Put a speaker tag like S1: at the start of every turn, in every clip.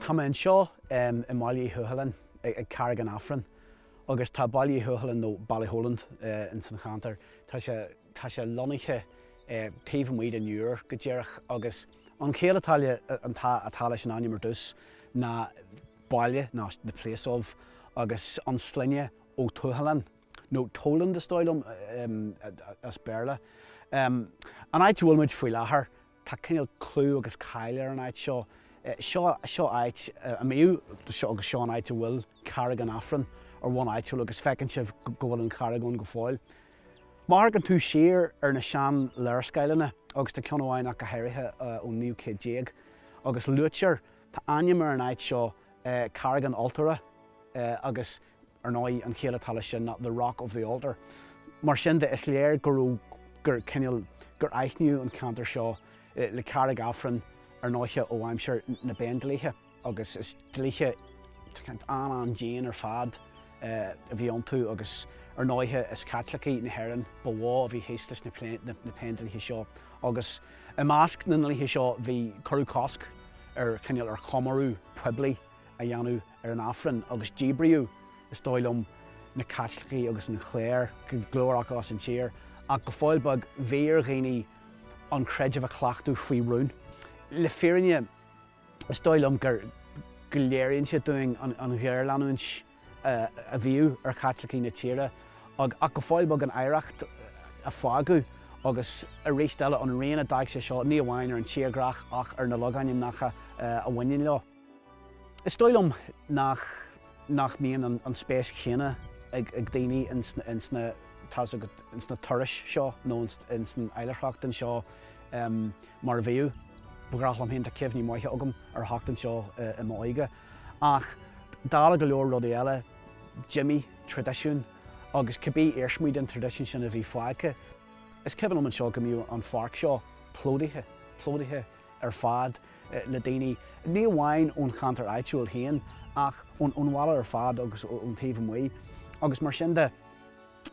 S1: Tá mé anseo i mBaile Uí Thuathaláin ag Carraig an Aifrinn agus tá Baile Uí Thuathaláin nó Ballyholland ins an cheantar. Tá sé lonnaithe taobh amuigh den Iúr go díreach agus. An chiall atá le, atá leis an ainm ar dtús ná baile nó the place of agus an sloinne Ó Tuathaláin, nó Toland is dóigh liom as Béarla. An áit a bhfuil muid faoi láthair, tá cineál clú agus cáil ar an áit seo. Seo áit a mbíodh agus seo an áit a bhfuil Carraig an Aifrinn ar bhonn áitiúil agus feiceann sibh go bhfuil an charraig ann go fóill. Má amharcann tú siar ar na sean-léarscáileanna, agus tá ceann amháin ach go háirithe ón naoú céad déag, agus luaitear, tá ainm ar an áit seo, Carraig an Altóra, agus ar ndóigh an chiall atá leis sin The Rock of the Altar. Mar sin de is léir go raibh, cineál, gur aithníodh an ceantar seo le Carraig Aifrinn ar ndóiche ó aimsir na bPéindlíthe. agus is dlíthe an-an-dian ar fad a bhí iontu agus ar ndóighe is Caitlicigh na hÉireann ba mhó a bhí thíos leis na Péindlíthe seo agus i measc na ndlíthe seo bhí, cuireadh cosc ar, cineál, ar chomóradh poiblí a dhéanamh ar an Aifreann agus díbríodh, is dóigh liom, na Caitlicigh agus an chléir, go leor acu, as an tír ach go fóill beag bhí ar dhaoine an creideamh a chleachtadh faoi rún. Le fírinne. Is dóigh liom go léiríonn sé dúinn an ghéarleanúint a bhíodh ar Chaitlicigh na tíre ach go fóill beag an oidhreacht a fágadh agus arís eile an rian a d'fhág sé seo ní amháin ar an tírdhreach ach ar na logainmneacha a bhaineann leo. Is dóigh liom nach mbíonn an spéis chéanna ag daoine ins na turais seo nó ins an oilithreacht anseo. mar a bhíodh. Ba ghnách liom féin, tá cuimhní maithe agam ar theacht anseo i m'óige, ach dála go leor rudaí eile, d'imigh traidisiún agus cibé iarsmaí den traidisiún sin a bhí fágtha. Is cuimhin liom anseo go mbeadh an pháirc seo plódaithe ar fad le daoine, ní amháin ón cheantar áitiúil féin ach ón bhaile ar fad agus ón taobh amuigh agus mar sin de.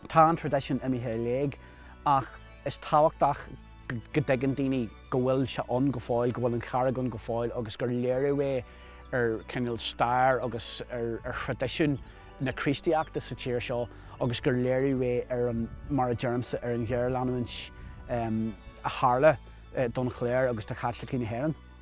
S1: Tá an traidisiún imithe i léig ach is tábhachtach go dtuigeann daoine go bhfuil sé ann go fóill, go bhfuil an charraig ann go fóill agus gur léiriú é ar chineál stair agus ar thraidisiún na Críostaíochta sa tír seo agus gur léiriú é ar an, mar a deirimse, ar an ghéarleanúint a tharla don chléir agus do Chaitlicigh na hÉireann.